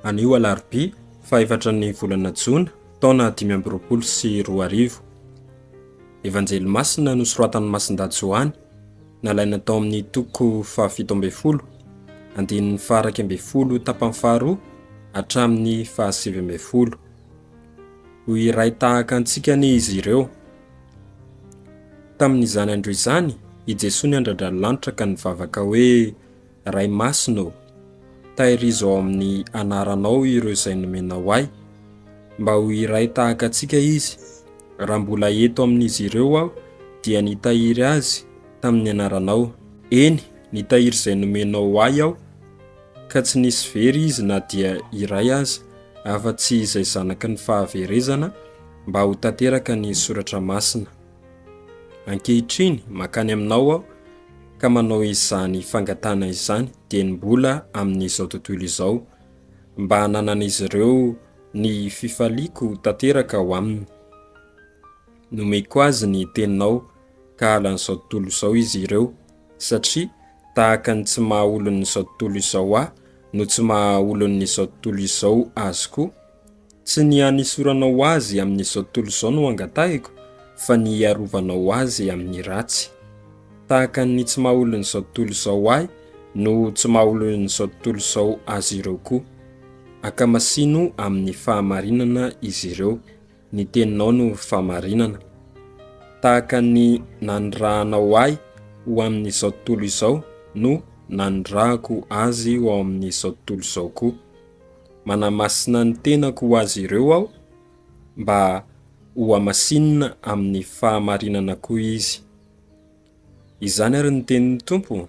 Anio Alarobia fahefatra ny volana Jona taona dimy amby roapolo sy roa arivo. Evanjely masina nosoratan'i Masindahy Joany nalaina tao amin'ny toko fahafito ambin'ny folo andininy faha-iraika ambin'ny folo tapany faharoa hatramin'ny fahasivy ambin'ny folo. Ho iray tahaka antsika anie izy ireo. Tamin'izany andro izany, i Jesoa niandrandra ny lanitra ka nivavaka hoe, Ray Masina ô, tahirizo ao amin'ny Anaranao ireo izay nomenao ahy, mba ho iray tahaka antsika izy. Raha mbola eto amin'izy ireo aho, dia nitahiry azy tamin'ny Anaranao. Eny, nitahiry izay nomenao ahy aho. ka tsy nisy very izy na dia iray aza afa-tsy izay zanaky ny fahaverezana mba ho tanteraka ny soratra masina. Ankehitriny makany aminao aho ka manao izany fangatahana izany dieny mbola amin'izao tontolo izao, mba hananan'izy ireo ny fifaliako tanteraka ao aminy. Nomeko azy ny teninao, kahalan'izao tontolo izao izy ireo, satria tahaka ny tsy maha olon'izao tontolo izao ahy no tsy maha olon'izao tontolo izao azy koa. Tsy ny hanisoranao azy amin'izao tontolo izao no angatahiko, fa ny hiarovanao azy amin'ny ratsy. Tahaka ny tsy maha olon'izao tontolo izao ahy no tsy maha olon'izao tontolo izao azy ireo koa. Ankamasino amin'ny fahamarinana izy ireo. Ny teninao no famarinana. Tahaka ny nanirahanao ahy ho amin'izao tontolo izao no nanirahako azy ho ao amin'izao tontolo izao koa. Manamasina ny tenako ho azy ireo aho mba hohamasinina amin'ny fahamarinana koa izy. Izany ary ny tenin'ny Tompo?